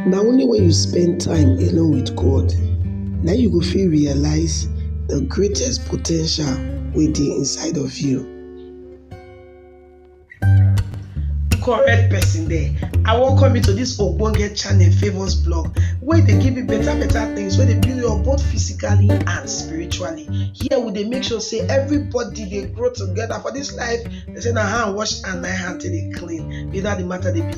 Na only wen you spend time alone with God na im you go fit realize de greatest po ten tial wey dey inside of you. Correct person there, I welcome you to dis ogbonge channel Favour's blog wey dey give you better better things wey dey build you up both physically and spiritually. Here we dey make sure sey everybody dey grow together for dis life, dem sey na hand wash hand na im hand take dey clean be dat de matter dey be.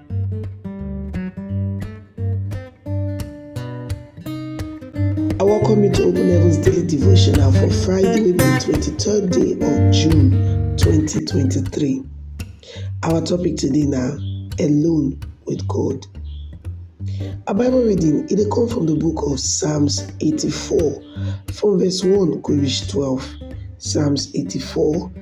I welcome you to Open Heaven's Daily Devotional for Friday, wey be the 23rd day of June 2023. Our topic today na Alone with God. Our Bible reading e dey come from the book of Psalms 84 from verse 1 go reach 12. Psalms 84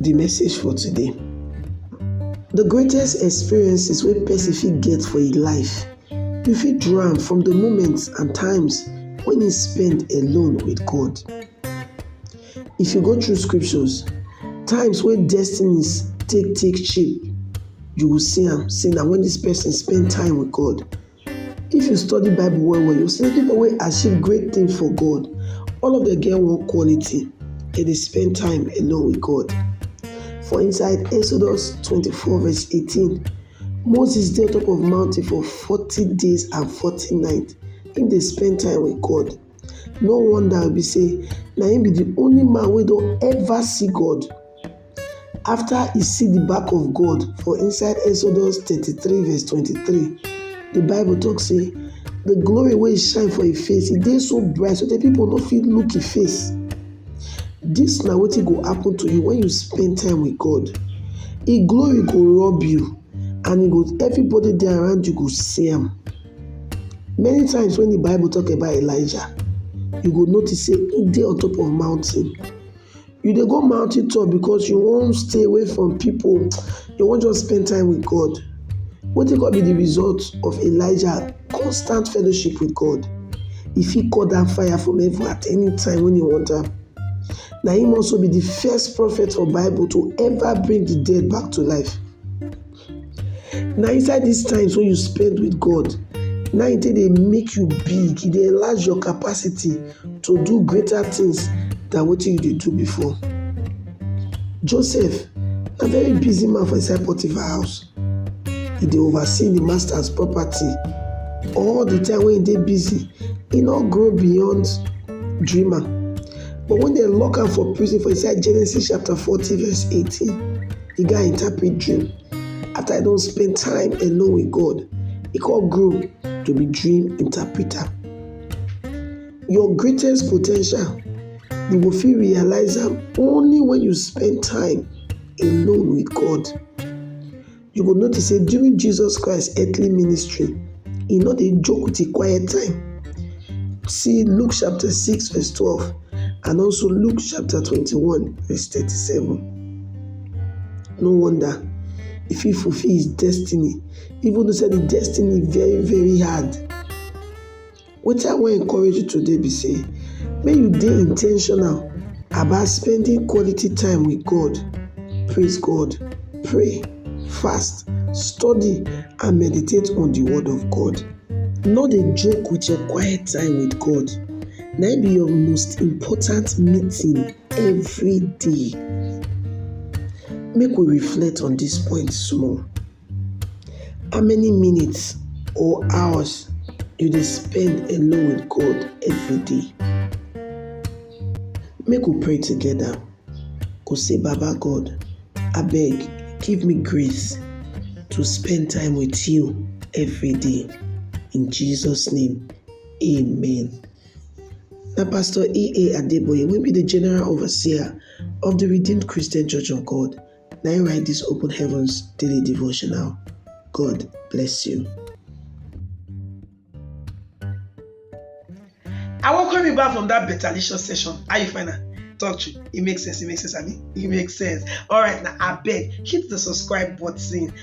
Di message for today, di greatest experiences wey pesin fit get for im life, you fit draw am from di moments and times wey im spend alone with God. If you go through scriptures, times wey destinies take take shape, you go see am sey na wen dis pesin spend time with God If you study Bible well well, you see people wey achieve great thing for God, all of them get one quality, dem dey spend time alone with God. For inside Exodus twenty-four verse eighteen, Moses dey on top of mountain for forty days and forty night, im dey spend time with God. no wonder be say na him be the only man wey don ever see God after he see the back of God for inside Exodus thirty three verse twenty three the bible talk say the glory wey shine for him face e dey so bright so that people no fit look him face this na wetin go happen to you when you spend time with God him glory go rob you and he go everybody dey around you go see am. Many times when the Bible talk about Elijah, you go notice say he dey on top of mountain. You dey go mountain top because you wan stay away from people, you wan just spend time with God. Wetin come be the result of Elijah constant fellowship with God? He fit call down fire from heaven at any time when he want am. Na him also be the first prophet for Bible to ever bring the dead back to life. Na inside dis times wey you spend with God na im take dey make you big, e dey enlarge your capacity to do greater things than wetin you dey do before. Joseph na very busy man for inside Potiphar house, e dey oversee im master's property. All the time wey e dey busy, e no grow beyond dreamer but when dem lock am for prison for inside Genesis chapter forty verse eighteen Di guy interpret dream after e don spend time alone with God, e come grow to be dream interpreter. Your greatest po ten tial, you go fit realize am only when you spend time alone with God. You go notice sey during Jesus Christ earthly ministry, e no dey joke with im quiet time. See Luke chapter six verse twelve and also Luke chapter twenty-one verse thirty-seven. No wonder e fit fulfill his destiny even though sey de destiny very very hard. Wetin I wan encourage you today be sey make you dey in ten tional about spending quality time with God, praise God, pray, fast, study and meditate on de word of God. No dey joke with your quite time with God na im be your most important meeting. every day. Make we reflect on dis point small. How many minutes or hours you dey spend alone with God every day? Make we pray together go say baba God abeg give me grace to spend time with you every day in Jesus name amen. Na Pastor EA Adeboye wey be di General Overseer of di Redeemed Christian Church of God na im write dis Open Heavens daily devotional. God bless you. I welcome you back from that better licious session. How you find am? Talk true. It makes sense. It makes sense, Abi. It makes sense. All right, now I beg hit the subscribe button.